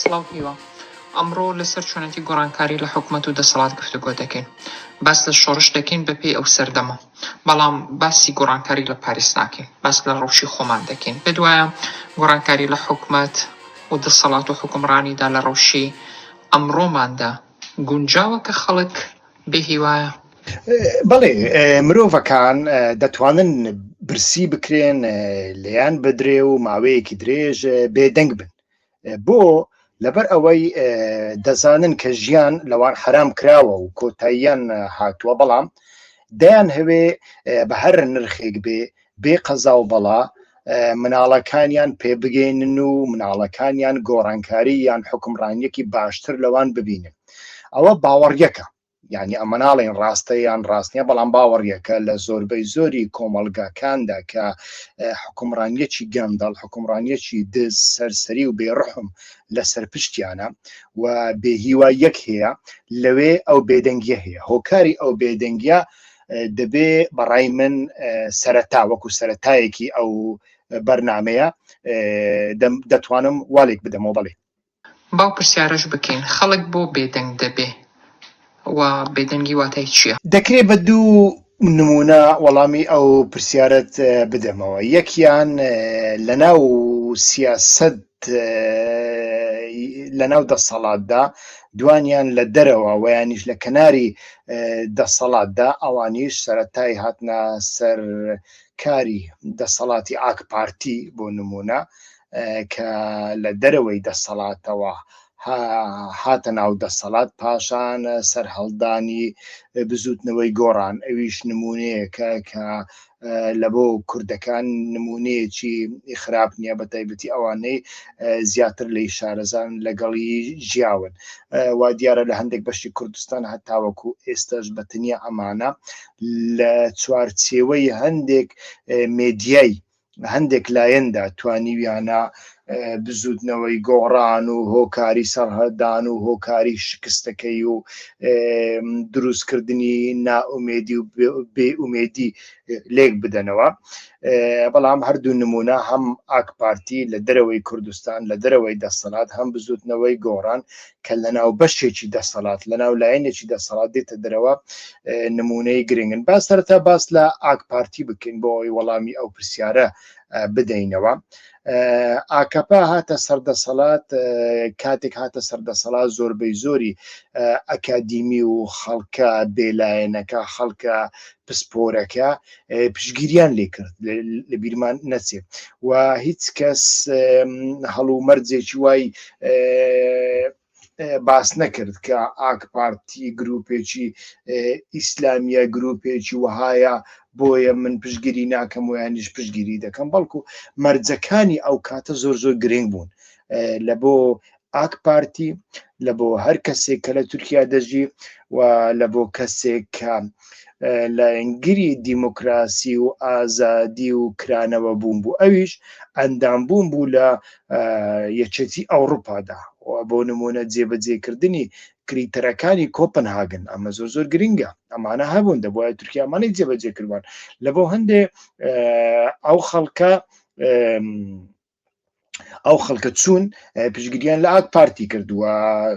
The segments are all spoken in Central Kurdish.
سڵاو هیوا. ئەمڕۆ لەسەر چۆنێتی گۆڕانکاری لە حکومەت و دەسەڵات گفتوگۆ دەکەین. باس لە شۆڕش دەکەین بە پێی ئەو سەردەمە. بەڵام باسی گۆڕانکاری لە پاریس ناکەین. باس لە ڕەوشی خۆمان دەکەین. پێت وایە گۆڕانکاری لە حکومەت و دەسەڵات و حوکمڕانیدا لە ڕەوشی ئەمڕۆماندا گونجاوە کە خەڵک بێ هیوایە. بەڵێ مرۆڤەکان دەتوانن برسی بکرێن لێیان بدرێ و ماوەیەکی درێژ بێدەنگ بن بۆ لەبەر ئەوەی دەزانن کە ژیان لەوان حرام کراوە و کۆتاییان هاتووە بەڵام دەیان هەوێ بە هەر نرخێک بێ بێ قەزا و بەڵا مناڵەکانیان پێبگەینن و مناڵەکانیان گۆڕانکاری یان حکمڕانیەکی باشتر لەوان ببینن ئەوە باوەڕیەکە یعنی ئەمە ناڵێن ڕاستە یان ڕاستە بەڵام باوەڕیەکە لە زۆربەی زۆری کۆمەلگاکاندا کە حکومڕانیەکی گەندەڵ حکومڕانیەکی دز سەرسەری و بێڕحم لە سەرپشتیانە و بێهیوا یەک هەیە لەوێ ئەو بێدەنگیە هەیە هۆکاری ئەو بێدەنگیە دەبێ بەڕای من سەرەتا وەکو سەتایەکی ئەو بەرنمەیە دەتوانم والێک بدەمەوە بڵێ باو پرسیارش بکەین خەڵک بۆ بێدەنگ دەبێ و بێدەنگی واتای چییە؟ دەکرێت بە دوو نمونە وەڵامی ئەو پرسیارت بدەمەوە یەکیان لە ناو سیاست لەناو دەسەڵاتدا دوانیان لە دەرەوە ویانیش لە کەناری دەسەڵاتدا ئەوانیش سەتای هاتنە سەر کاری دەسەڵاتی ئاک پارتی بۆ نمونە کە لە دەرەوەی دەسەڵاتەوە هاتە ناو دەسەڵات پاشان سەرهەڵدانی بزوتنەوەی گۆڕان ئەویش نمونەیەکە کە لە بۆ کوردەکان نمونەیەکی خراپ نییە بە تایبەتی ئەوانەی زیاتر لی شارەزان لەگەڵی ژیاون وا دیارە لە هەندێک بەشی کوردستان هەتاوەکو ئێستاش بە تەنیا ئەمانە لە چوارچێوەی هەندێک مێدیای هەندێک لایەندا توانیویانە بزووتنەوەی گۆڕان و هۆکاری سەڕهدان و هۆکاری شکستەکەی و دروستکردنی نائومێدی و بێئومێدی لێک بدەنەوە بەڵام هەردوو نمونە هەم ئاکپارتی لە دەرەوەی کوردستان لە دەرەوەی دەسەلات هەم بزوتنەوەی گۆڕان کە لەناو بەشێکی دەسەلات لەناو لایەنێکی دەسەڵات دێتە دەرەوە نمونەی گرنگن با سەرتا باس لە ئاکپارتی بکەین بۆ ئەوی وەڵامی ئەو پرسیارە بدەینەوە ئاکەپە هاتە سەردەسەڵات کاتێک هاتە سەردەسەڵات زۆربەی زۆری ئەکادیمی و خەڵکە بێلایەنەکە خەڵکە پسپۆرەکە پشگیریان لێ کرد لە بیرمان نەچێت و هیچ کەس هەڵومەرجێکی وای باس نەکرد کە ئاک پارتی گروپێکی ئیسلامیە گروپێکی وەهایە بۆیە من پشگیری ناکەم ویانیش پشگیری دەکەم بەڵکو مەرجەکانی ئەو کاتە زۆر زۆر گرنگ بوون لە بۆ ئاک پارتی لە بۆ هەر کەسێک کە لە تورکیا دەژی و لە بۆ کەسێک کە لە ئەنگری دیموکراسی و ئازادی و کرانەوە بوون بوو ئەویش ئەندام بوون بوو لە یەکێتی ئەوروپادا بۆ نمونە جێبەجێکردنی کریتەرەکانی کۆپنهاگن ئەمە زۆر زۆر گرنگە ئەمانە هەبوون دەبواە تورکیامانی جێبەجێ کردوان لە بۆ هەندێ ئەو خەڵکە ئەو خەڵکە چوون پشگیریان لە ئاک پارتی کردووە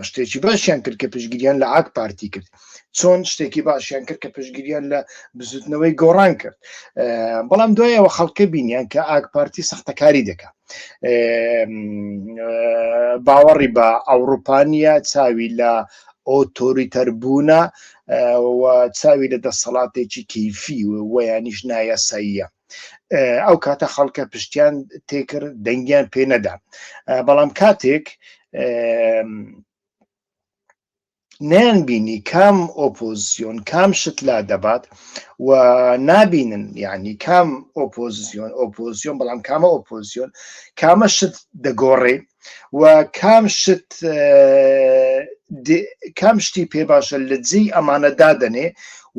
شتێکی باشیان کرد کە پشگیریان لە ئاک پارتی کرد چۆن شتێکی باشیان کرد کە پشگیریان لە بزوتنەوەی گۆڕان کرد بەڵام دوایەوە خەڵکە بینیان کە ئاک پارتی سەختەکاری دەکات باوەڕی بە ئەوروپانیا چاوی لە ئۆتۆریتەر بوونە و چاوی لە دەسەڵاتێکی کەیفی و یانیش نایاساییە ئەو کاتە خەڵکە پشتیان تێکرد دەنگیان پێ نەدا بەڵام کاتێک نەیان بینی کام ئۆپۆزیسیۆن کام شت لا دەبات و نابینن یعنی کام ئۆپۆزیسیۆن ئۆپۆزیۆن بەڵام کامە ئۆپۆزیۆن کامە شت دەگۆڕێ و کام شت کام شتی پێ باشە لە جێی ئەمانە دادەنێ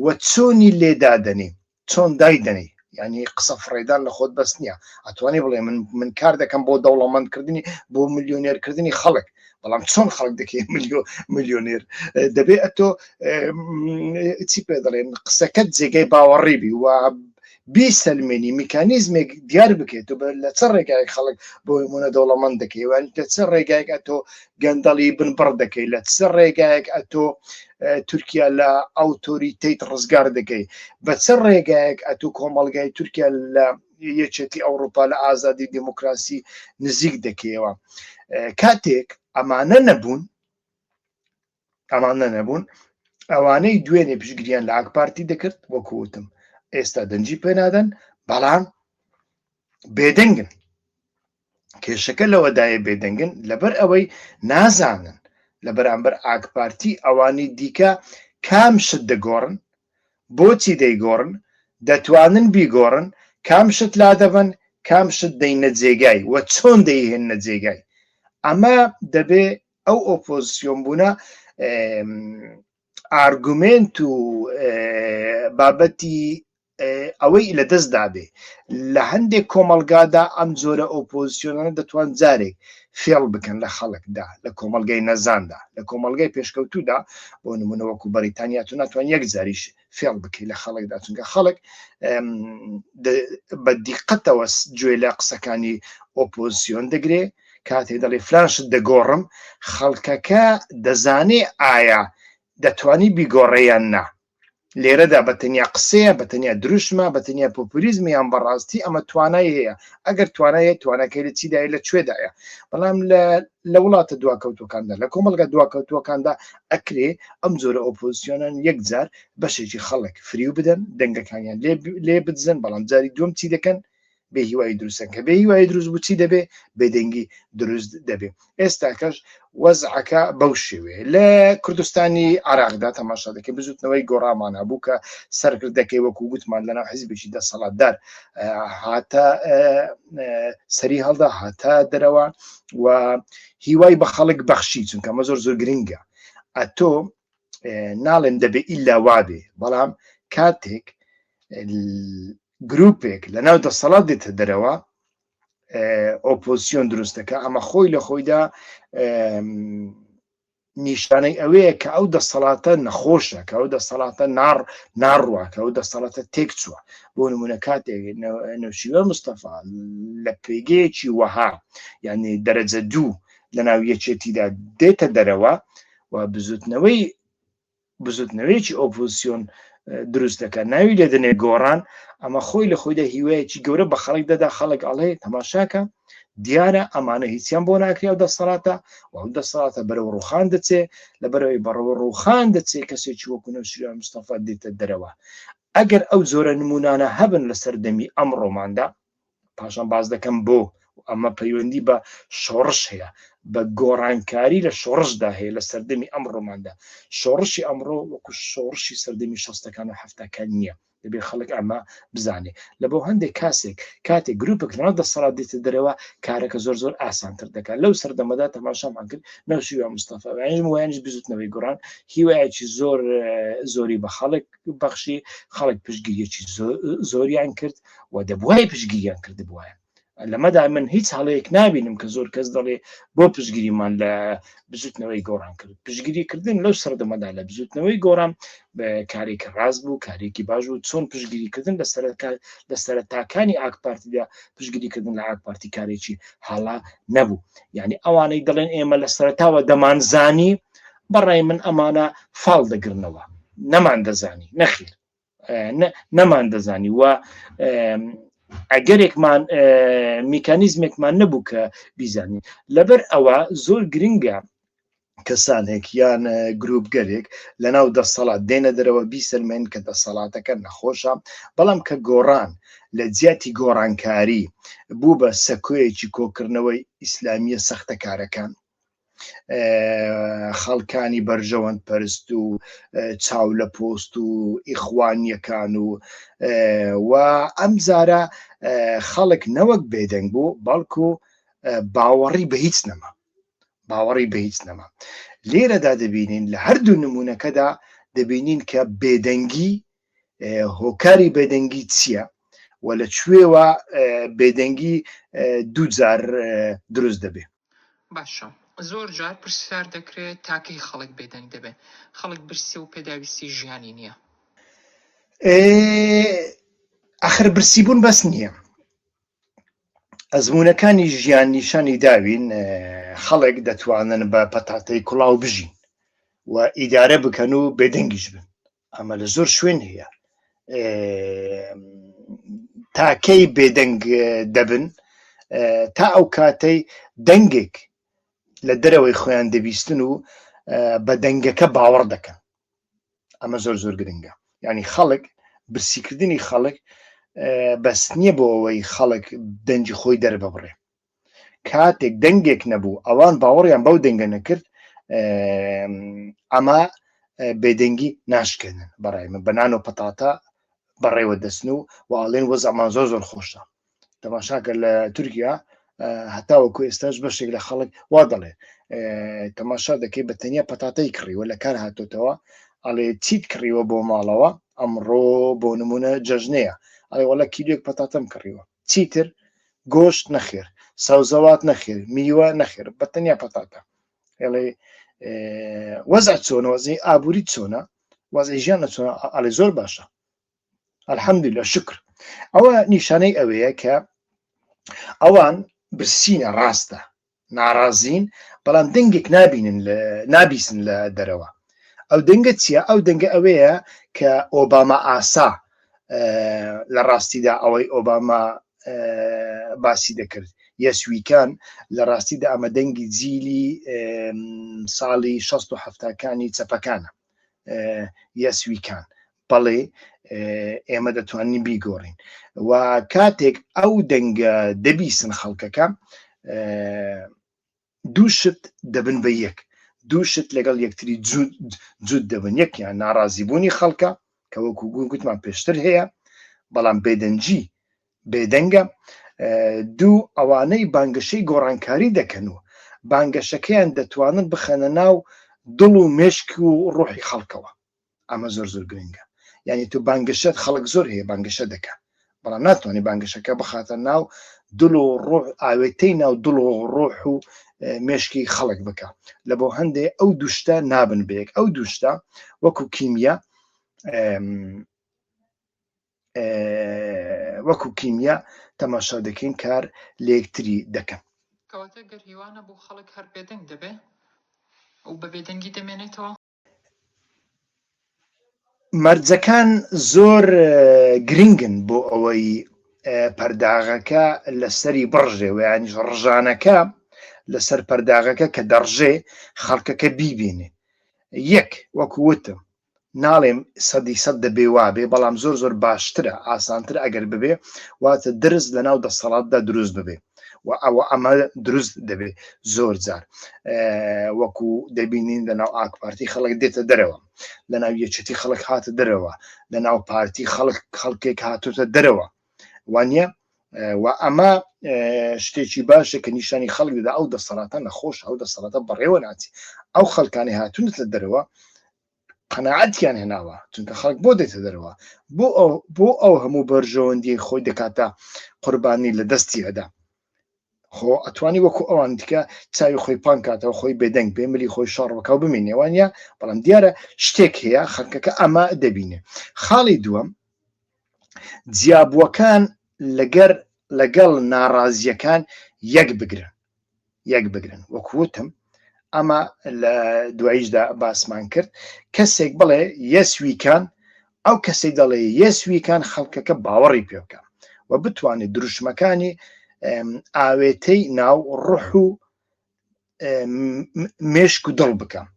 و چۆنی لێدادەنێ چۆن دای دەنێی ینی قسە فڕێدان لە خۆت بەس نییە ئەتوانی بڵێ من من کار دەکەم بۆ دەوڵەمەندکردنی بۆ ملیۆنێرکردنی خەڵک بەڵام چۆن خەڵک دەکەی ملیۆ ملیۆنێر دەبێت ئەتۆ چی پێ دەڵێن قسەکەت جێگەی باوەڕی بی و بیسەلمێنی میکانیزمێک دیار بکەیت و لە چ ڕێگایك خەڵک بۆی منە دەوڵەمەند دەکەیوان لە چ ڕێگایک ئەتۆ گەندەڵی بنبڕ دەکەی لە چ ڕێگایەک ئەتۆ تورکیا لە ئەوتۆریتیت ڕزگار دەکەی بە چ ڕێگایەک ئەتو کۆمەلگای تورکیا لە یەکێتی ئەوروپا لە ئازادی دیموکراسی نزیک دەکەیەوە کاتێک ئەمانە نەبوون ئەمانە نەبوون ئەوانەی دوێنێ پشگریان لە ئاکپارتی دەکرد وەکوتم ئێستا دەنجی پێنادەن بەڵام بێدەنگن کێشەکە لەوەدایە بێدەنگن لەبەر ئەوەی نازانن لە بەرامبەر ئاکپارتی ئەوانی دیکە کام شت دەگۆڕن بۆچی دەیگۆڕن دەتوانن بیگۆڕن کام شت لا دەبن کام شت دەینە جێگای و چۆن دەیهێنە جێگای ئەمە دەبێ ئەو ئۆپۆزیسیۆن بوونە ئارگومێنت و بابەتی ئەوەی لە دەست دابێ لە هەندێک کۆمەلگادا ئەم جۆرە ئۆپۆزیسیۆنانە دەتوان جارێک فێڵ بکەن لە خەڵکدا لە کۆمەلگای نەزاندا لە کۆمەلگای پێشکەوتودا بۆ نمونەوەکو بەریتانیا تو ناتوان یەک جاریش فێڵ بکەیت لە خەڵکدا چونکە خەڵک بە دیقەتەوە گوێ لە قسەکانی ئۆپۆزیسیۆن دەگرێ کاتێ دەڵێ فلان شت دەگۆڕم خەڵکەکە دەزانێ ئایا دەتوانی بیگۆڕێیان نا لێرەدا بە تەنیا قسەیە بە تەنیا دروشمە بە تەنیا پۆپولیزم یان بەڕاستی ئەمە توانای هەیە ئەگەر توانایە توانەکەی لە چیدای لە کوێدایە بەڵام لە وڵاتە دواکەوتەکاندا لە کۆمەلگە دواکەوتوەکاندا ئەکرێ ئەم جۆرە ئۆپۆزیسیۆنان یەکجار بەشێکی خەڵک فریو بدەن دەنگەکانیان لێ بدزن بەڵام جاری دوم چی دەکەن بێ هیوایی دروستن کە بێ هیوایی دروست بوو چی دەبێ بێدەنگی دروست دەبێ ئێستاکەش وەزعەکە بەو شێوێ لە کوردستانی عراقدا تەماشا دەکەی بزوتنەوەی گۆڕامان هەبوو کە سەرکردەکەی وەکو گوتمان لەناو حزبێکی دەسەڵاتدار هاتە سەری هەڵدا هاتە دەرەوە و هیوای بە خەڵک بەخشی چونکە مە زۆر زۆر گرنگە ئەتۆ ناڵێن دەبێ ئیلا وابێ بەڵام کاتێک گروپێک لە ناو دەسەڵات دێتە دەرەوە ئۆپۆزسیۆن دروست دەکە ئەمە خۆی لە خۆیدا نیشانەی ئەوەیە کە ئەو دەسەڵاتە نەخۆشە کە ئەو دەسەڵاتە نار ناڕوە کە ئەو دەسەڵاتە تێک چووە بۆ نمونە کاتێک نوشیوە مستەفا لە پێگەیەکی وەها یعنی دەرەجە دوو لە ناو یەکێتیدا دێتە دەرەوە و بزوتنەوەی بزوتنەوەیەکی ئۆپۆزسیۆن دروست دەکات ناوی لێ دەنێ گۆڕان ئەمە خۆی لە خۆیدا هیوایەکی گەورە بە خەڵک دەدا خەڵک ئەڵێ تەماشاکە دیارە ئەمانە هیچیان بۆ ناکریا و دەسەڵاتە و ئەو دەسەڵاتە بەرەو ڕوخان دەچێ لە بەرەوەی بەڕەوە ڕوخان دەچێ کەسێکی وەکوونە شوان مستەفا دێتە دەرەوە ئەگەر ئەو زۆرە نمونانە هەبن لە سەردەمی ئەم ڕۆماندا پاشان باز دەکەم بۆ ئەمە پەیوەندی بە شۆڕش هەیە بە گۆڕانکاری لە شۆڕشدا هەیە لە سەردەمی ئەم ڕۆماندا شۆڕشی ئەمڕۆ وەکو شۆڕشی سەردەمی شەستەکان و هەفتەکان نییە دەبێت خەڵک ئەمە بزانێت لە بۆ هەندێک کاسێک کاتێک گروپێک لەناو دەسەڵات دێتە دەرەوە کارەکە زۆر زۆر ئاسانتر دەکات لەو سەردەمەدا تەماشامان کرد نەوشیوە مستەفاوانیش وایانش بزوتنەوەی گۆڕان هیوایەکی زۆر زۆری بە خەڵک بەخشی خەڵک پشگیریەکی زۆریان کرد و دەبوای پشگیریان کردبووە لەمەدا من هیچ هەڵەیەک نبینم کە زۆر کەس دەڵێ بۆ پشگیریمان لە بزوتنەوەی گۆڕان کرد پشگیریکردن لەو سەردەمەدا لە بزوتنەوەی گۆڕان کارێکی ڕاست بوو کارێکی باش بوو چۆن پشگیریکردن لە سەرکار لە سەرتاکانی ئاکپارتیدا پشگیریکردن لە ئاکپارتی کارێکی هەڵا نەبوو یعنی ئەوانەی دەڵێن ئێمە لە سەرتاوە دەمانزانی بەڕای من ئەمانە فاڵ دەگرنەوە نەمان دەزانی نەخیر نەمان دەزانی و ئەگەرێکمان میکانیزمێکمان نەبوو کە بیزانین لەبەر ئەوە زۆر گرنگە کەسانێک یان گروپگەلێک لە ناو دەسەڵات دێنە دەرەوە بیسەلمێن کە دەسەڵاتەکە نەخۆشە بەڵام کە گۆڕان لە جیاتی گۆڕانکاری بوو بە سەکۆیەکی کۆکردنەوەی ئیسلامیە سەختەکارەکان خەڵکانی بەرژەوەند پەرست و چاو لە پۆست و ئیخوانیەکان و و ئەم زارە خەڵک نەوەک بێدەنگ بوو بەڵکو باوەڕی بە هیچ نەما باوەڕی بە هیچ نەما لێرەدا دەبینین لە هەردوو نمونونەکەدا دەبینین کە بێدەنگی هۆکاری بێدەنگی چییە و لە کوێوە بێدەنگی دووجار دروست دەبێت باشە زۆر جار پرسیار دەکرێ تا کەی خەڵک بێدەنگ دەبێ؟ خەڵک برسیە و پێداویستی ژیانی نییە. ئێ ئەخر برسی بوون بەس نییە. ئەزمونونەکانی ژیان نیشانی داوین خەڵک دەتوانن بە پەتاتەی کوڵاو بژین و ئیدارە بکەن و بێدەنگیش بن ئەمە لە زۆر شوێن هەیە تاکەی بێدەنگ دەبن تا ئەو کاتەی دەنگێک لە دەرەوەی خۆیان دەبیستن و بە دەنگەکە باوەڕ دەکەن ئەمە زۆر زۆر گرنگە ینی خەڵک برسیکردنی خەڵک بەس نییە بۆ ئەوەی خەڵک دەنجی خۆی دەرببڕێ کاتێک دەنگێک نەبوو ئەوان باوەڕیان بەو دەنگە نەکرد ئەما بێدەنگی ناشکێنن بەڕای من بەنان و پەتاتە بەڕێوە دەستن و واڵێن وەزەمان زۆر زۆر خۆشە تەماشاکە لە تورکیا هەتاوەکو ئێستاش بەشێک لە خەڵک وا دەڵێ تەماشا دەکەی بە تەنیا پەتاتەی کڕیوە لە کار هاتۆتەوە ئەڵێ چیت کڕیوە بۆ ماڵەوە ئەمڕۆ بۆ نمونە جەژنەیە ئەڵێ وڵە کیلێک پەتاتەم کڕیوە چیتر گۆشت نەخێر سەوزەوات نەخێر میوە نەخێر بە تەنیا پەتاتە ئێڵێ وەزع چۆنە وەزی ئابووری چۆنە وەزی ژیان لە چۆن ئەڵێ زۆر باشە الحمد لە شکر ئەوە نیشانەی ئەوەیە کە ئەوان برسینە ڕاستە ناڕازین بەڵام دەنگێک نابینن نابیسن لە دەرەوە ئەو دەنگە چییە ئەو دەنگە ئەوەیە کە ئۆباما ئاسا لە ڕاستیدا ئەوەی ئۆباما باسی دەکرد یەسویکان لە ڕاستیدا ئەمە دەنگی جیلی ساڵی 1670کانی چەپەکانە یەس وی کان بەڵێ ئێمە دەتوانین بیگۆڕین و کاتێک ئەو دەنگە دەبیسن خەڵکەکە دوو شت دەبن بە یەک دوو شت لەگەڵ یەکتری جوود دەبن یەکیان ناڕازیبوونی خەڵکە کە وەکو گوون گوتمان پێشتر هەیە بەڵام بێدەنجی بێدەنگە دوو ئەوانەی بانگەشەی گۆڕانکاری دەکەن و بانگەشەکەیان دەتوانن بخەنە ناو دڵ و مێشک و ڕۆحی خەڵکەوە ئەمە زۆر زۆر گرنگە یعنی تو بانگەشەت خەڵک زۆر هەیە بانگەشە دەکە بەڵام ناتوانانی بانگەشەکە بخاتە ناو دڵ و ڕۆح ئاوێتەی ناو دڵ و ڕۆح و مێشکی خەڵک بکە لە بۆ هەندێ ئەو دوشتە نابن بەیەک ئەو دوشتە وەکو کیمیا وەکو کیمیا تەماشا دەکەین کار لەیەکتری دەکەن. کەواتە گەر هیوا نەبوو خەڵک هەر بێدەنگ دەبێ و بە بێدەنگی دەمێنێتەوە. مەرجەکان زۆر گرنگن بۆ ئەوەی پەرداغەکە لەسەری بڕژێ و یانیش ڕژانەکە لەسەر پەرداغەکە کە دەڕژێ خەڵکەکە بیبینێ یەک وەکووتم ناڵێم سەدی سەد دەبێ وابێ بەڵام زۆر زۆر باشترە ئاسانتر ئەگەر ببێ واتە درز لە ناو دەسەڵاتدا دروست ببێ و ئەوە ئەمە دروست دەبێت زۆر جار وەکو دەبینین لە ناو ئاکپارتی خەڵک دێتە دەرەوە لە ناو یەچەتی خەڵک هاتە دەرەوە لە ناو پارتی خەڵک خەڵکێک هاتوتە دەرەوە وانە و ئەمە شتێکی باشە کە نیشانی خەڵک دەدا ئەو دەسەڵاتە نەخۆش ئەو دەسەڵاتە بەڕێوە ناچی ئەو خەڵکانی هاتونت لە دەرەوە قەنەعاتیان هێناوە چونکە خەڵک بۆ دێتە دەرەوە بۆ ئەو بۆ ئەو هەموو بەرژەوەندی خۆی دەکاتە قوربانی لە دەستی ئەدا خۆ ئەتوانی وەکو ئەوان دیکە چاوی خۆی پان کاتەوە خۆی بێدەنگ بێ ملی خۆی شاڕوەکەو بمێنێوانە بەڵام دیارە شتێک هەیە خەکەکە ئەمە دەبینێ خاڵی دووەم جیابووەکان لەگەر لەگەڵ ناڕازیەکان یەک بگرن یەک بگرن وەکوتم ئەمە لە دواییشدا باسمان کرد کەسێک بڵێ یەس ویکان ئەو کەسی دەڵێ یەس ویکان خەڵکەکە باوەڕی پێ بکە و بتوانێت دروشمەکانی ئاوێتەی ناو ڕح و مێشک و دڵ بکەم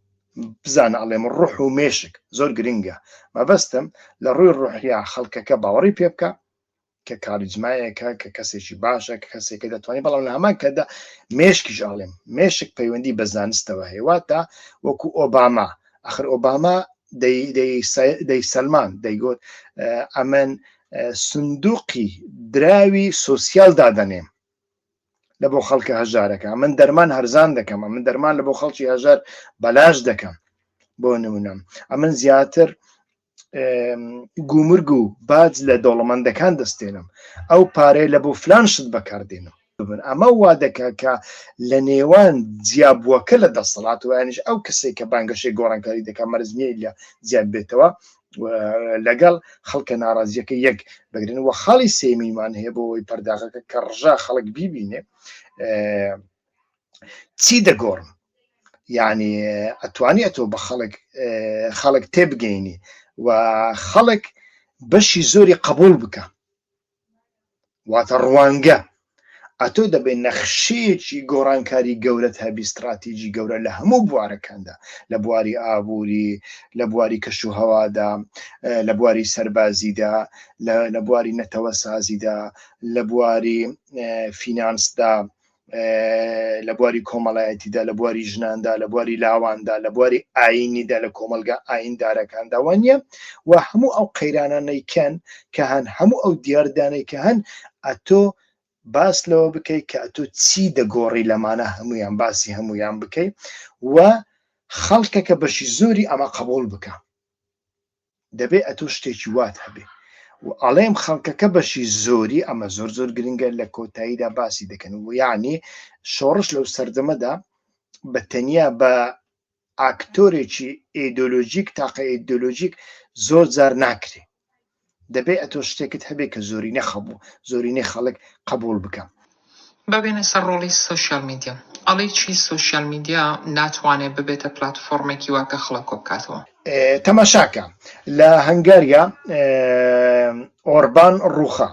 بزانە ئەڵێم ڕح و مێشک زۆر گرنگە مەبەستم لە ڕووی ڕحیا خەڵکەکە باوەڕی پێ بکە کە کاریزمایەکە، کە کەسێکی باشە، کە کەسێکە دەتوانێت، بەڵام لە هەمان کاتدا مێشکیش ئاڵێم، مێشک پەیوەندی بە زانستەوە هەیە، واتە وەکو ئۆباما، ئاخر ئۆباما دەیسەلماند، دەیگوت ئەمن سندوقی دراوی سۆسیال دادەنێم، لە بۆ خەڵکە هەژارەکە من دەرمان هەرزان دەکەم من دەرمان لە بۆ خەڵکی هەژار بەلاش دەکەم بۆ نمونم ئەمن زیاتر گومرگ و باج لە دەوڵەمەندەکان دەستێنم ئەو پارەیە لە بۆ فلان شت بەکاردێنم ببن ئەمە وا دەکە کە لە نێوان جیابووەکە لە دەسەڵات و یانیش ئەو کەسێک کە بانگەشەی گۆڕانکاری دەکە مەرزنیە لە زیاد بێتەوە لەگەڵ خەڵکە ناڕازیەکە یەک بگرن و خاڵی سێمیمان هەیە بۆ ئەوی پەرداغەکە کە ڕژا خەڵک بیبینێ چی دەگۆڕم یعنی ئەتوانی ئەتۆ بە خەڵک خەڵک تێبگەینی و خەڵک بەشی زۆری قبول بکە واتە ڕوانگە ئەتۆ دەبێت نەخشەیەکی گۆڕانکاری گەورەت هەبی استراتیژی گەورە لە هەموو بوارەکاندا لە بواری ئابووری لە بواری کەش و هەوادا لە بواری سەربازیدا لە بواری نەتەوە سازیدا لە بواری فینانسدا لە بواری کۆمەڵایەتیدا لە بواری ژناندا لە بواری لاواندا لە بواری ئاینیدا لە کۆمەلگا ئایندارەکاندا وانە و هەموو ئەو قەیرانانەیکەن کە هەن هەموو ئەو دیاردانەی کە هەن ئەتۆ باس لەوە بکەیت کە ئەتۆ چی دەگۆڕی لەمانە هەمویان باسی هەمویان بکەیت و خەڵکەکە بەشی زۆری ئەمە قبول بکە دەبێ ئەتۆ شتێکی وات هەبێ و ئەڵێم خەڵکەکە بەشی زۆری ئەمە زۆر زۆر گرنگە لە کۆتاییدا باسی دەکەن و یعنی شۆڕش لەو سەردەمەدا بە تەنیا بە ئاکتۆرێکی ئیدۆلۆژیک تاقە ئیدۆلۆژیک زۆر جار ناکرێ دەبێ ئەتۆ شتێکت هەبێ کە زۆرینە خەبوو زۆرینەی خەڵک قبول بکەم با بێینە سەر ڕۆڵی سۆشیال میدیا. ئەڵێی چی سۆشیال میدیا ناتوانێ ببێتە پلاتفۆڕمێکی وا کە خڵک کۆبکاتەوە؟ تەماشاکە لە هەنگاریا ئۆربان ڕوخا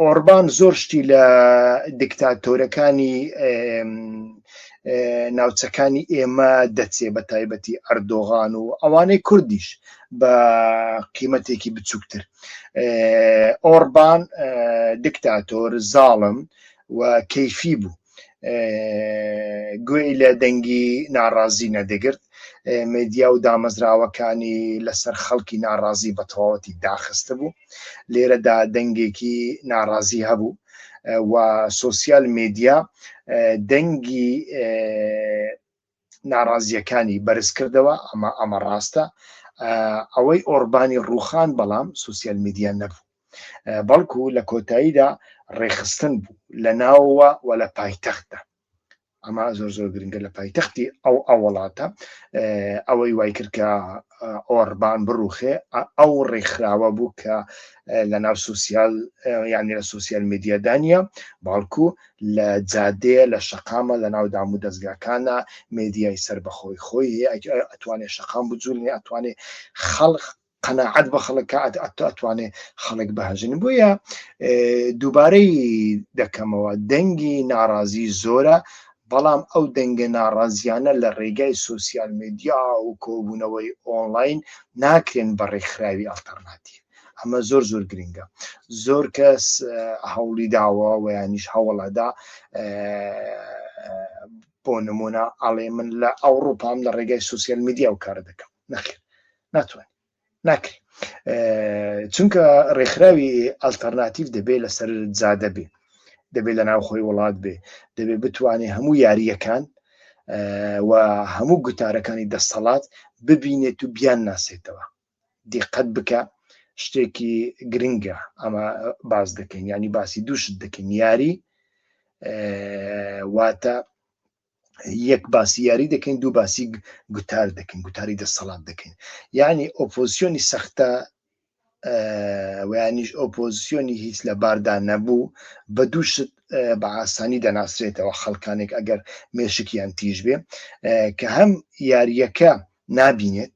ئۆربان زۆر شتی لە دکتاتۆرەکانی ناوچەکانی ئێمە دەچێ بە تایبەتی ئەردۆغان و ئەوانەی کوردیش بە قیمەتێکی بچووکتر ئۆربان دکتاتۆر زاڵم و کەیفی بوو گوێی لە دەنگی ناڕازی نەدەگرت مدیا و دامەزراوەکانی لەسەر خەڵکی ناڕازی بە تەواوەتی داخستە بوو لێرەدا دەنگێکی ناڕازی هەبوو و سوسیال مدیا دەنگی ناڕازیەکانی بەرز کردەوە ئەمە ئەمە ڕاستە ئەوەی ئۆربانی ڕوخان بەڵام سوسیال میدیا نەبوو بەڵکو لە کۆتاییدا ڕێخستن بوو لە ناوەوە و لە پایتەختدا ئەمە زۆر زۆر گرنگە لە پایتەختی ئەو ئەو وڵاتە ئەوەی وای کرد کە ئۆربان بڕوخێ ئەو ڕێکخراوە بوو کە لە ناو سوسیال یانی لە سوسیال میدیادانە باڵکو لە جادەیە لە شقامە لە ناو دام و دەستگاکانە مدیای سەر بەخۆی خۆی ئەتوانێت شقام بجوولنی ئەتوانێت خەڵق قەناعەت بە خەڵک کە ئەتۆ ئەتوانێ خەڵک بەهەژن بۆیە دووبارەی دەکەمەوە دەنگی ناڕازی زۆرە بەڵام ئەو دەنگە ناڕازیانە لە ڕێگای سوسیال میدیا و کۆبوونەوەی ئۆنلاین ناکرێن بە ڕێکخراوی ئەلتەرناتی ئەمە زۆر زۆر گرنگە زۆر کەس هەوڵی داوە ویانیش هەوڵەدا بۆ نمونە ئاڵێ من لە ئەوروپام لە ڕێگای سوسیال میدیا و کار دەکەم نەخێر ناتوانین ناکری چونکە ڕێکخراوی ئەلتەرناتیف دەبێ لەسەر جادە بێ دەبێت لە ناوخۆی وڵات بێ دەبێت بتوانێت هەموو یاریەکان و هەموو گوتارەکانی دەستەڵات ببینێت و بیان ناسێتەوە دیقەت بکە شتێکی گرنگە ئەمە باز دەکەین ینی باسی دووشت دەکەین یاری واتە یەک باسی یاری دەکەین دوو باسی گوتار دەکەین گوتاری دەسەڵات دەکەین یعنی ئۆپۆزیۆنی سەختە ویانیش ئۆپۆزیۆنی هیچ لە باردا نەبوو بە دووشت بە ئاسانی دەناسرێتەوە خەڵکانێک ئەگەر مێشکیان تیژ بێ کە هەم یاریەکە نابینێت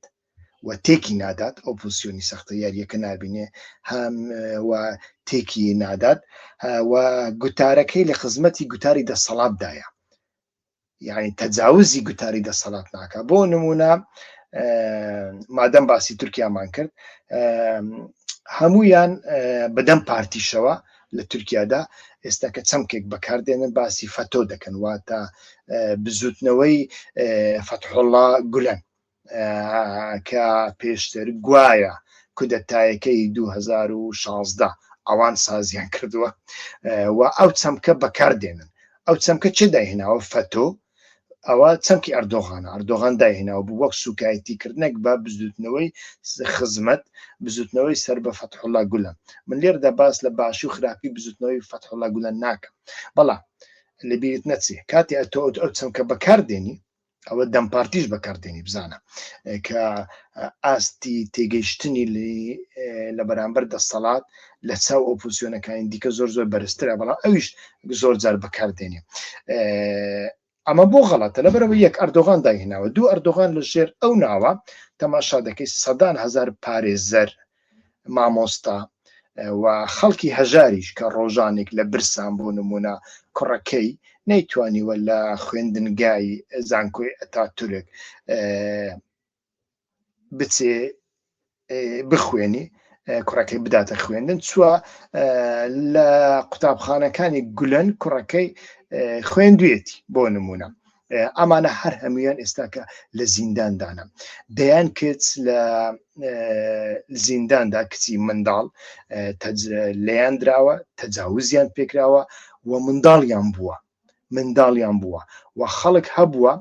و تێکی نادات ئەو پوزسیۆنی سەختە یاریەکە نبینێ هەم و تێکی نادات و گوتارەکەی لە خزمەتی گوتاری دەسەڵاتدایە یعنی تەجاوزی گوتاری دەسەڵات ناکە بۆ نمونە مادەم باسی تورکیامان کرد هەمویان بەدەم پارتیشەوە لە تورکیادا ئێستا کە چەمکێک بەکاردێنن باسی فەتۆ دەکەن واتە بزوتنەوەی فەتحۆڵا گولەن کە پێشتر گوایە کودەتایەکەی دوو هەزار و شازدە ئەوان سازیان کردووە و ئەو چەمکە بەکاردێنن ئەو چەمکە چێ داهێناوە فەتۆ ئەوە چەمکی ئەردۆغانە ئەردۆغان داهێناوە بوو وەک سوکایەتی کردنێک بە بزوتنەوەی خزمەت بزوتنەوەی سەر بە فەتحڵا گولە من لێردا باس لە باشی و خراپی بزوتنەوەی فەتحڵا گولە ناکەم بەڵام لەبیرت نەچێ کاتی ئەتۆ ئەو چەمکە بەکاردێنی ئەوە دەم پارتیش بەکاردێنی بزانە کە ئاستی تێگەیشتنی لە بەرامبەر دەسەڵات لە چاو ئۆپوسیۆنەکانی دیکە زۆر زۆر بەرزترە بەڵام ئەویش زۆر جار بەکاردێنێ ئەمە بۆ غەڵەتە لە بەرەوە یەک ئەردۆغان داهێناوە دوو ئەردۆغان لە ژێر ئەو ناوە تەماشا دەکەیت سەدان هزار پارێزەر مامۆستا و خەڵکی هەژاریش کە ڕۆژانێک لە برسان بۆ نمونە کوڕەکەی نەیتوانیوە لە خوێندنگای زانکۆی ئەتا تورک بچێ بخوێنی کوڕەکەی بداتە خوێندن چوە لە قوتابخانەکانی گولەن کوڕەکەی خوێندوێتی بۆ نمونە ئەمانە هەر هەمویان ئێستاکە لە زینداندانە دەیان کچ لە زینداندا کچی منداڵ لەیان دراوە تەجاوزیان پێکراوە و منداڵیان بووە منداڵیان بووە و خەڵک هەبووە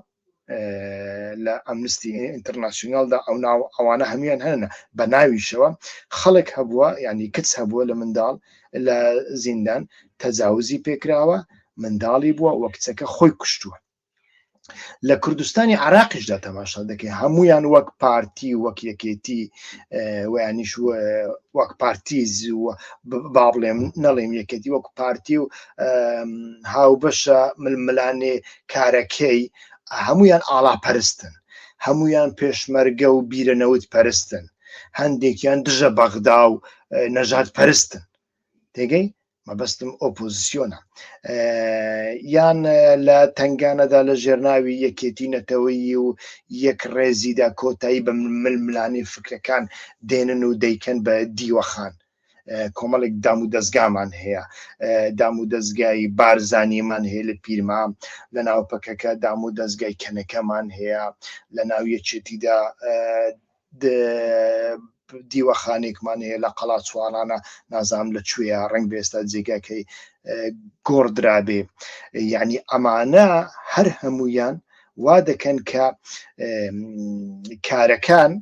لە ئەمنستی ئینتەرناسیۆنالدا ئەو ناو ئەوانە هەمویان هەنە بە ناویشەوە خەڵک هەبووە ینی کچ هەبووە لە منداڵ لە زیندان تەجاوزی پێکراوە منداڵی بووە و کچەکە خۆی کوشتووە. لە کوردستانی عراقیشدا تەماشا دەکەی هەمویان وەک پارتی وەک یەکێتی ویانیش وەک پارتی زووە با بڵێم نەڵێم یەکێتی وەک پارتی و هاوبەشە ململانێ کارەکەی هەمویان ئاڵاپەرستن هەمویان پێشمەرگە و بیرە نەوت پەرستن هەندێکیان دژە بەغدا و نەژات پەرستن تێگەی مەبەستم ئۆپۆزیسیۆنە یان لە تنگانەدا لە ژێرناوی یەکێتی نەتەوەیی و یەک ڕێزیدا کۆتایی بە ململانی فکرەکان دێنن و دەیکەن بە دیوەخان کۆمەڵێک دام و دەستگامان هەیە دام و دەستگای بارزانیمان هەیە لە پیرما لە ناو پەکەکە دام و دەستگای کەنەکەمان هەیە لە ناو یەکێتیدا دیوەخانێکمان هەیە لە قەڵاچوارانە نازام لە کوێە ڕنگ بێستا جێگاکەی گۆڕدرابێ یعنی ئەمانە هەر هەمویان وا دەکەن کە کارەکان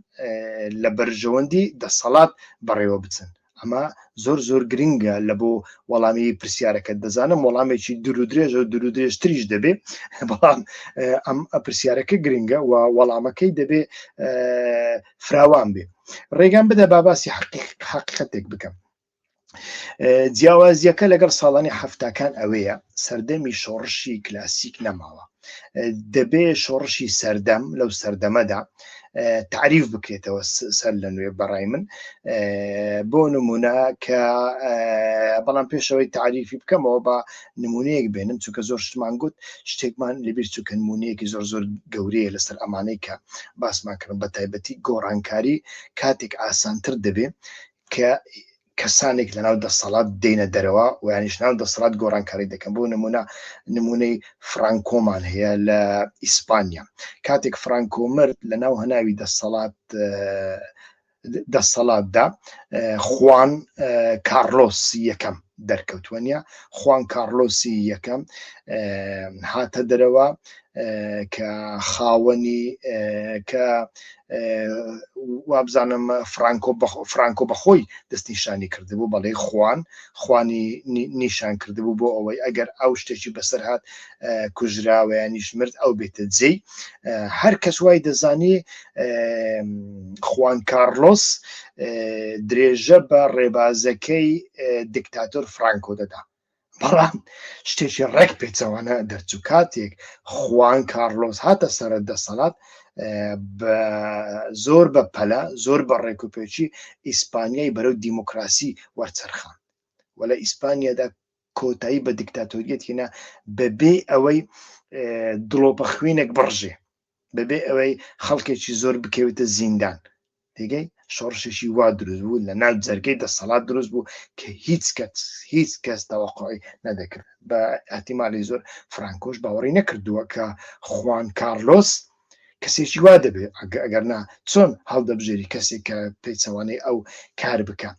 لە بەرژەوەندی دەسەڵات بەڕێوە بچن ئەمە زۆر زۆر گرنگە لە بۆ وەڵامی پرسیارەکەت دەزانم وەڵامێکی درودرێژە و درودرێژتریش دەبێ بەڵام ئەم پرسیارەکە گرنگە و وەڵامەکەی دەبێ فراوان بێ ڕێگان بدە باباسی حقیقەتێک بکەم جیاوازیەکە لەگەڵ ساڵانی هەفتاکان ئەوەیە سەردەمی شۆڕشی کلاسیک نەماوە دەبێ شۆڕشی سەردەم لەو سەردەمەدا تعریف بکرێتەوە سەر لە نوێ بەڕای من بۆ نمونە کە بەڵام پێشەوەی تعریفی بکەمەوە بە نمونەیەک بێنم چونکە زۆر شتمان گوت شتێکمان لەبیر چووکە نمونەیەکی زۆر زۆر گەورەیە لەسەر ئەمانەی کە باسمان کردن بە تایبەتی گۆڕانکاری کاتێک ئاسانتر دەبێ کە کەسانێک لەناو دەسەڵات دێنە دەرەوە و یانیش ناو دەسەڵات گۆڕانکاری دەکەن بۆ نمونە نمونەی فرانکۆمان هەیە لە ئیسپانیا کاتێک فرانکۆ مرد لە ناو هەناوی دەسەڵات دەسەڵاتدا خوان کارلۆس یەکەم دەرکەوتووە نیە خوان کارلۆسی یەکەم هاتە دەرەوە کە خاوەنی کە وابزانم فرانکۆ فرانکۆ بەخۆی دەستنیشانی کردبوو بەڵێ خوان خوانی نیشان کردبوو بۆ ئەوەی ئەگەر ئەو شتێکی بەسەر هاات کوژراوەیانیش مرد ئەو بێتە جێ هەر کەس وای دەزانی خوان کارلۆس درێژە بە ڕێبازەکەی دکتاتۆر فرانکۆ دەدا بەڵام شتێکی ڕێک پێچەوانە دەرچوو کاتێک خوان کارلۆز هاتە سەر دەسەڵات بە زۆر بە پەلە زۆر بە ڕێکوپێکی ئیسپانیای بەرەو دیموکراسی وەرچەرخان و لە ئیسپانیادا کۆتایی بە دیکتاتۆریەت هێنا بەبێ ئەوەی دڵۆپە خوێنێک بڕژێ بەبێ ئەوەی خەڵکێکی زۆر بکەوێتە زیندان دیگەی شۆڕشێکی وا دروست بوو لە ناو جەرگەی دەسەڵات دروست بوو کە هیچ کەس هیچ کەس تەوەقعی نەدەکرد بە ئەتیمالی زۆر فرانکۆش باوەڕی نەکردووە کە خوان کارلۆس کەسێکی وا دەبێت ئەگەر نا چۆن هەڵدەبژێری کەسێک کە پێچەوانەی ئەو کار بکە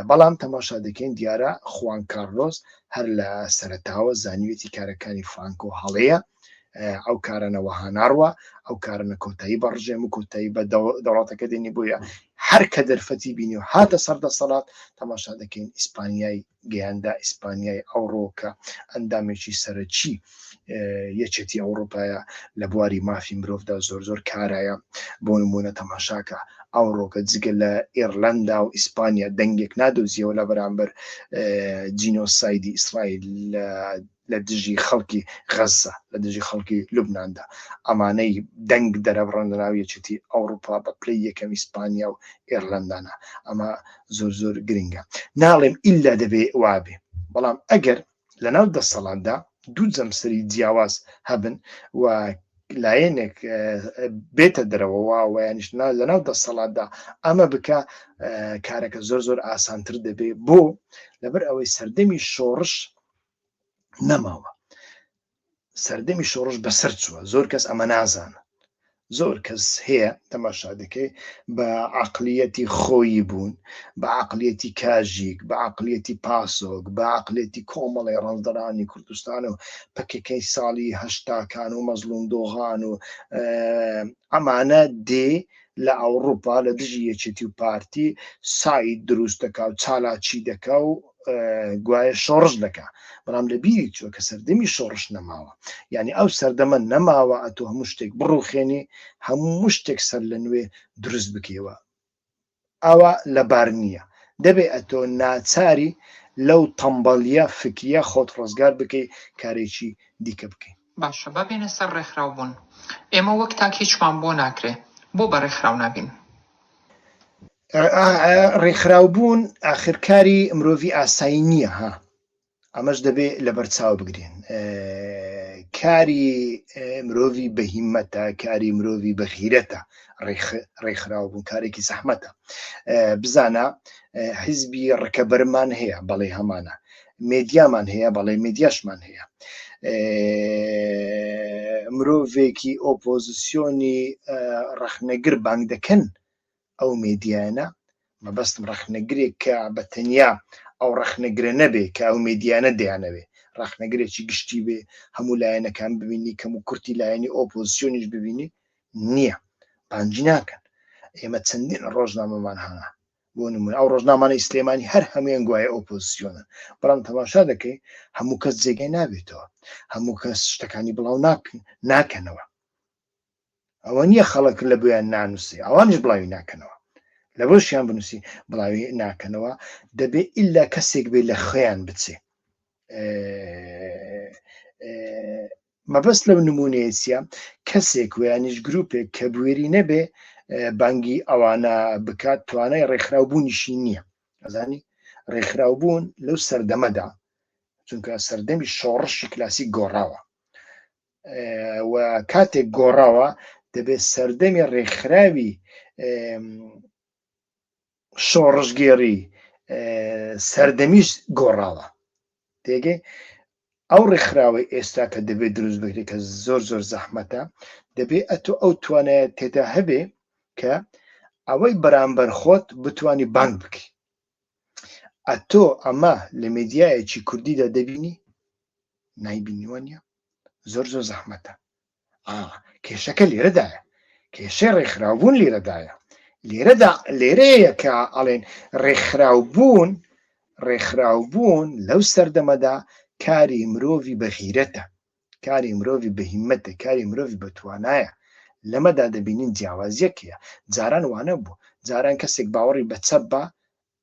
بەڵام تەماشا دەکەین دیارە خوان کارلۆس هەر لە سەرتاوە زانیوێتی کارەکانی فرانکۆ هەڵەیە ئەو کارەنەوەها ناڕوە ئەو کارنە کۆتایی بە ڕژێم و کۆتایی بە دەوڵاتەکە دێنی بۆیە هەر کە دەرفەتی بینی و هاتە سەر دەسەڵات تەماشا دەکەین ئیسپانیای گەیاندا ئیسپانیای ئەوڕۆکە ئەندامێکی سەرەکی یەکێتی ئەوروپایە لە بواری مافی مرۆڤدا زۆر زۆر کارایە بۆ نمونە تەماشاکە ئەو ڕۆکە جگە لە ئێرلندا و ئیسپانیا دەنگێک نادۆزیەوە لە بەرامبەر جینۆسایدی ئیسرائیل لە لە دژی خەڵکی غەززە، لە دژی خەڵکی لوبناندا، ئەمانەی دەنگ دەرەبڕن لە ناو یەکێتی ئەوڕوپا بە پلەی یەکەم ئیسپانیا و ئێرلەندانە، ئەمە زۆر زۆر گرنگە. ناڵێم ئیلا دەبێ وا بێ، بەڵام ئەگەر لە ناو دەسەڵاتدا دوو جەمسەری جیاواز هەبن و لایەنێک بێتە دەرەوە و وایانیش لە ناو دەسەڵاتدا ئەمە بکە کارەکە زۆر زۆر ئاسانتر دەبێ، بۆ؟ لەبەر ئەوەی سەردەمی شۆڕش نەماوە سەردەمی شۆڕش بەسەر چووە زۆر کەس ئەمە نازانە زۆر کەس هەیە تەماشا دەکەی بە عقلیەتی خۆیی بوون بە عقلیەتی کاژیک بە عقلیەتی پاسۆک بە عقلێتی کۆمەڵی ڕەنجدەرانی کوردستان و پکەکەی ساڵی هەشتاکان و مەزلوم دۆغان و ئەمانە دێ لە ئەوڕوپا لە دژی یەکێتی و پارتی ساید دروست دەکا و چالاکی دەکا و گوایە شۆڕش دەکا بەڵام لە بیری چوە کە سەردەمی شۆڕش نەماوە یعنی ئەو سەردەمە نەماوە ئەتۆ هەموو شتێک بڕوخێنی هەموو شتێک سەر لە نوێ دروست بکەوە ئەوە لەبار نییە دەبێ ئەتۆ ناچاری لەو تەمبەڵە فکریە خۆت ڕزگار بکەی کارێکی دیکە بکەین باشە با بێنە سەر ڕێکخراو بوون ئێمە وەک تاک هیچمان بۆ ناکرێ بۆ بە ڕێکخراو نابین. ڕێکخراو بوون ئاخر کاری مرۆڤی ئاسایی نییە ها ئەمەش دەبێ لەبەر چاو بگرین کاری مرۆڤی بەهیمەتە کاری مرۆڤی بەخیرەتە ڕێکخراو بوون کارێکی زەحمەتە بزانە حیزبی ڕکەبەرمان هەیە بەڵێ هەمانە مێدیامان هەیە بەڵێ مێدیاشمان هەیە مرۆڤێکی ئۆپۆزیسیۆنی ڕەخنەگر بانگ دەکەن ئەو مێدیانە مەبەستم ڕەخنەگرێک کە بە تەنیا ئەو ڕەخنەگرە نەبێ کە ئەو مێدیانە دەیانەوێ ڕەخنەگرێکی گشتی بێ هەموو لایەنەکان ببینی کەم و کورتی لایەنی ئۆپۆزیسیۆنیش ببینی نییە بانجی ناکەن ئێمە چەندین ڕۆژنامەمان هەنا بۆ نموونە ئەو ڕۆژنامانەی سلێمانی هەر هەمویان گوایە ئۆپۆزسیۆنن بەڵام تەماشا دەکەین هەموو کەس جێگای نابێتەوە هەموو کەس شتەکانی بڵاو ناکەنەوە ئەوە نییە خەڵک لە بۆیان نانووسی ئەوانش بڵاوی ناکەنەوە لە بۆشیان بنووسی بڵاوی ناکەنەوە دەبێ ئللا کەسێک بێ لە خۆیان بچێ مەبەست لەو نموونەیە چیە؟ کەسێک وەیانیش گروپێک کە بوێری نەبێ بانگی ئەوانە بکات توانای ڕێکخراو بوونیشی نییە ئەزانی ڕێکخراو بوون لەو سەردەمەدا چونکە سەردەمی شۆڕشی کلاسیک گۆڕاوە و کاتێک گۆڕاوە دەبێت سەردەمی ڕێکخراوی شۆڕشگێڕی سەردەمیش گۆڕاوە تێگەی ئەو ڕێکخراوەی ئێستا کە دەبێت دروست بکرێت کە زۆر زۆر زەحمەتە دەبێت ئەتو ئەو توانایە تێدا هەبێ کە ئەوەی بەرامبەر خۆت بتانی بانگ بکەی ئەتۆ ئەمە لە میدیایەکی کوردیدا دەبینی نایبینیوە نیە زۆر زۆر زەحمەتە ئا کێشەکە لێرەدایە کێشەی ڕێکخراوبوون لێرەدایە لێرەدا لێرەیە کە ئەڵێن ڕێکخراوبوون ڕێکخراوبوون لەو سەردەمەدا کاری مرۆڤی بەغیرەتە کاری مرۆڤ بەهیمەتە کاری مرۆڤ بە توانایە لەمەدا دەبینین جیاوازیەکەیە جاران وانە بوو جاران کەسێک باوەڕی بە چەپ بە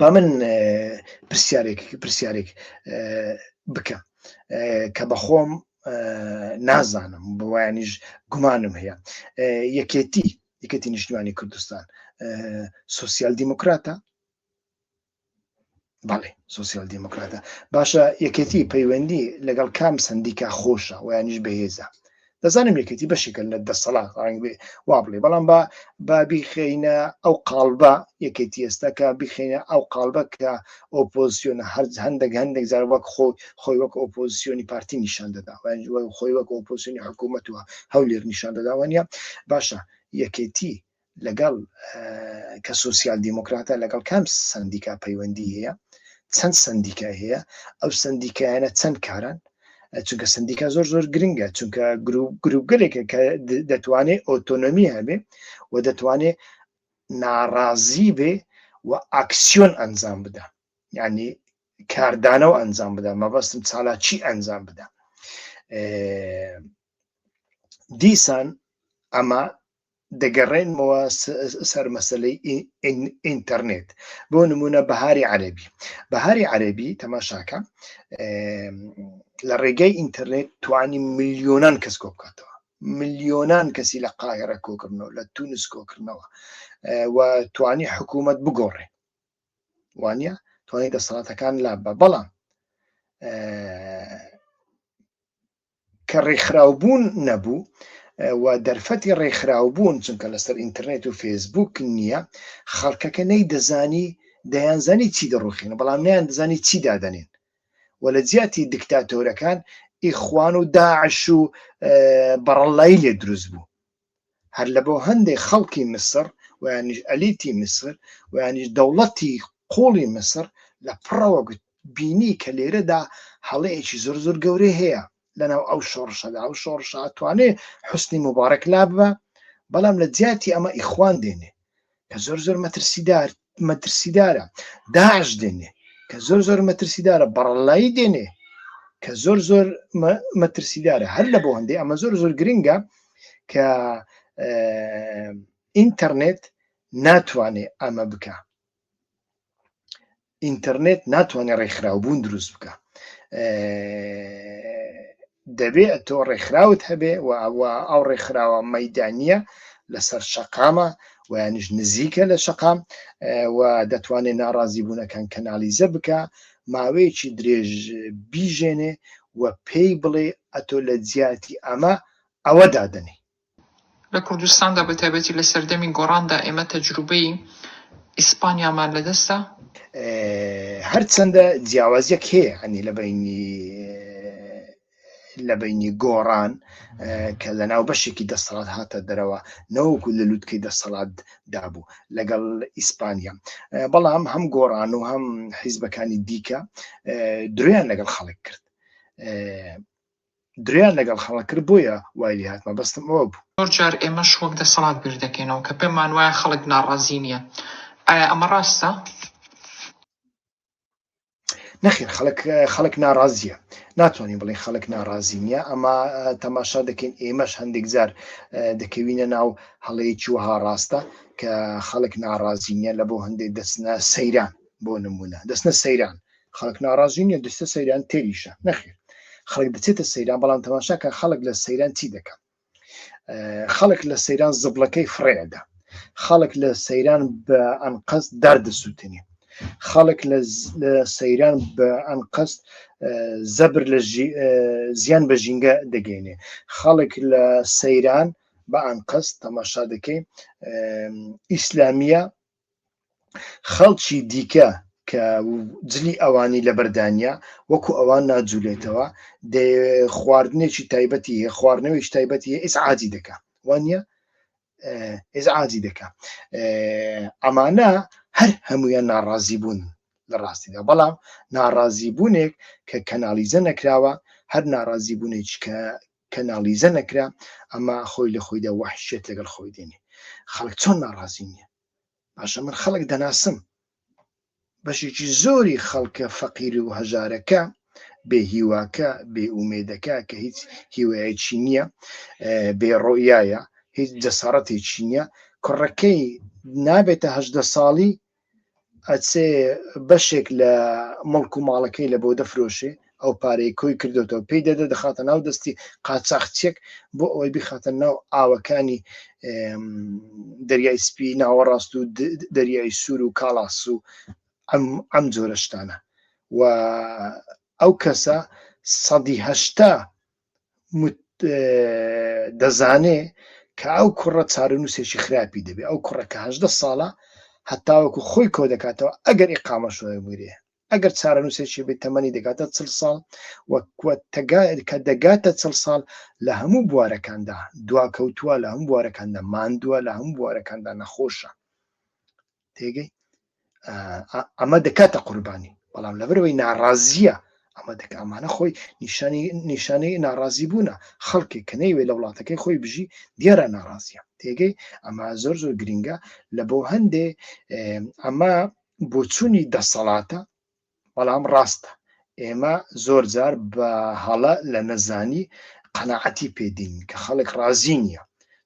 با من پرسیارێک پرسیارێک بکەم کە بەخۆم نازانم بۆیانیش گومانم هەیە یەکێتی یەکەتی نیشتمانی کوردستان سوسیال دیموکراتە بەڵێ سوسیال دیموکراتە باشە یەکێتی پەیوەندی لەگەڵ کام سندیکا خۆشە ویانیش بەهێزە دەزانم یەکێتی بەشێکە لە دەسەڵات ڕنگ بێ وا بڵێ بەڵام با با بیخینە ئەو قالبە یەکێتی ئێستاکە بیخینە ئەو قالبە کە ئۆپۆزیۆنە هەر هەندێک هەندێک جار وەک خۆ خۆی وەک ئۆپۆزیۆنی پارتی نیشان دەدا خۆی وەک ئۆپۆزیۆنی حکوومەت وە هەولێر نیشان دەداوانە باشە یەکێتی لەگەڵ کە سوسیال دیموکراتە لەگەڵ کام سندیکا پەیوەندی هەیە چەند سندیکای هەیە ئەو سندیکایانە چەند کارن چونکە سندیکا زۆر زۆر گرنگە چونکە گروپگەلێکە کە دەتوانێت ئۆتۆنۆمی هەبێ و دەتوانێت ناڕازی بێ و ئاکسیۆن ئەنجام بدا ینی کاردانەوە ئەنجام بدا مەبەستم چالاکی ئەنجام بدا دیسان ئەمە دەگەڕێنمەوە سەر مەسلەی ئینتەرنێت بۆ نمونە بەهاری عەربی بەهاری عەربی تەماشاکە لە ڕێگەی ئینتەرنێت توانی میلیۆنان کەس کۆ بکاتەوە میلیۆنان کەسی لە قاهرە کۆکردنەوە لە تونس کۆکردنەوە و توانی حکوومەت بگۆڕێ وانە توانی دەسەڵاتەکان لا بە بەڵام کە ڕێکخراوبوون نەبوو و دەرفەتی ڕێکخراوبوون چونکە لەسەر ئینترنێت و فێسبوک نییە خەڵکەکە نەی دەزانی دەیانزانی چی دەڕوخینە بەڵام نیان دەزانی چی دادەنێن و لە جیاتی دکتاتۆرەکان ئیخوان و داعش و بەڕەڵلایی لێ دروست بوو هەر لەبۆ هەندێ خەڵکی میسر و یانیش ئەلیتی میسر و یانیش دەوڵەتی قوڵی میسر لە پڕەوە گوت بینی کە لێرەدا هەڵەیەکی زۆر زۆر گەورەی هەیە لەناو ئەو شۆڕشەدا ئەو شۆڕشە ئەتوانێ حوسنی موبارەک لاببا بەڵام لە جیاتی ئەمە ئیخوان دێنێ کە زۆر زۆر مەترسیدار مەترسیدارە داعش دێنێ کە زۆر زۆر مەترسیدارە بەڕەلایی دێنێ کە زۆر زۆر مەترسیدارە هەر لە بۆ هەندێ ئەمە زۆر زۆر گرنگە کە ئینتەرنێت ناتوانێ ئەمە بکە ئینتەرنێت ناتوانێت ڕێکخراوبوون دروست بکە دەبێت تۆ ڕێکخراوت هەبێ و ئەوە ئەو ڕێکخراوە مەدانە لەسەر شەقامە ویانش نزیکە لە شەقام و دەتوانێت ناڕازی بوونەکان کەنالیزە بکە ماوەیەکی درێژ بیژێنێ و پێی بڵێ ئەتۆ لە جیاتی ئەمە ئەوە دادنی لە کوردستاندا بە تایبەتی لە سەردەمی گۆڕاندا ئێمە تەجروبەی ئیسپانیامان لە دەستە. هەرچەندە جیاوازیەک هەیە ئەنی لە بینی لە بینی گۆڕان کە لە ناو بەشێکی دەسەڵات هاتە دەرەوە نەوەکو لە لووتکەی دەسەڵات دابوو لەگەڵ ئیسپانیا بەڵام هەم گۆڕان و هەم حیزبەکانی دیکە درویان لەگەڵ خەڵک کرد درۆیان لەگەڵ خەڵک کرد بۆیە وای لێ هات مەبەستم ئەوە بوو. زۆر جار ئێمەش وەک دەسەڵات بیر دەکەینەوە کە پێمان وایە خەڵک ناڕازی نییە ئایا ئەمە ڕاستە؟ نەخێر خەڵک خەڵک ناڕازیە ناتوانین بڵێ خەڵک ناڕازی نییە ئەمە تەماشا دەکەین ئێمەش هەندێک جار دەکەوینە ناو هەڵەیەکی وەها ڕاستە کە خەڵک ناڕازی نییە لە بۆ هەندێک دەچنە سەیران بۆ نمونە دەچنە سەیران خەڵک ناڕازی نیە دەچتە سەیران تێریشە نەخێر خەڵک دەچێتە سەیران بەڵام تەماشاکە خەڵک لە سەیران چی دەکەن خەڵک لە سەیران زبلەکەی فڕێدا خەڵک لە سەیران بە ئەنقەست داردەسووتنی خەڵک لە سەیران بە ئەنقەست زەبر لە زیان بە ژینگە دەگەینێ خەڵک لە سەیران بە ئەنقەست تەماشا دەکەین ئیسلامیە خەڵکی دیکە کە جلی ئەوانی لەبەردانە وەکو ئەوان ناجوولێتەوە خواردنێکی تایبەتی هەیە خواردنەوەی تایبەتی ئیس عادی دەکە وانە ئێز عادی دەکە ئەمانە هەر هەمویان ناڕازی بوون لە ڕاستیدا بەڵام ناڕازی بوونێک کە کەناڵیزە نەکراوە هەر ناڕازی بوونێک کە کەنالیزە نەکرا ئەمە خۆی لە خۆیدا وەحشیەت لەگەڵ خۆی دێنێ خەڵک چۆن ناڕازی نییە باشە من خەڵک دەناسم بەشێکی زۆری خەڵکە فەقیر و هەژارەکە بێ هیواکە بێ ئومێدەکە کە هیچ هیوایەکی نییە بێ ڕۆیایە هیچ جەسارەتێکی نییە کوڕەکەی نابێتە هەدە ساڵی ئەچێ بەشێک لە مڵک و ماڵەکەی لە بۆ دەفرۆشێ ئەو پارەی کۆی کردوێتەوە پێی دەدە دەخاتە ناو دەستی قاچاخچێک بۆ ئەوەی بخاتە ناو ئاوەکانی دەریای سپی ناوەڕاست و دەریای سوور و کاڵاس و ئەم جۆرەشتانە و ئەو کەسە سەدیهشتا دەزانێ کە ئەو کوڕە چارەنووسێکی خراپی دەبێ، ئەو کوڕە کە هەژدە ساڵە هەتاوەکو خۆی کۆ دەکاتەوە ئەگەر ئیقامەش وەربگرێ، ئەگەر چارەنووسێکی بێ تەمەنی دەگاتە چل ساڵ و کە دەگاتە چل ساڵ لە هەموو بوارەکاندا دواکەوتووە، لە هەموو بوارەکاندا ماندووە، لە هەموو بوارەکاندا نەخۆشە. تێگەی ئەمە دەکاتە قوربانی بەڵام لەبەرەوەی ناڕازیە ئەمە دەک ئەمانە خۆی نیشانی نیشانەی ناڕازی بوونە خەڵکی کە نەیوێ لە وڵاتەکەی خۆی بژی دیارە ناڕازیە تێگەی ئەمە زۆر زۆر گرنگە لە بۆ هەندێ ئەمە بۆچوونی دەسەڵاتە بەڵام ڕاستە ئێمە زۆر جار بە هەڵە لە نەزانی قەنەعەتی پێدین کە خەڵک ڕازی نییە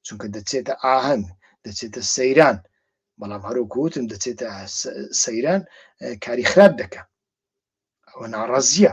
چونکە دەچێتە ئاهەنگ دەچێتە سەیران بەڵام هەروکوتم دەچێتە سەیران کاری خراپ دەکە ئەوە ناڕازیە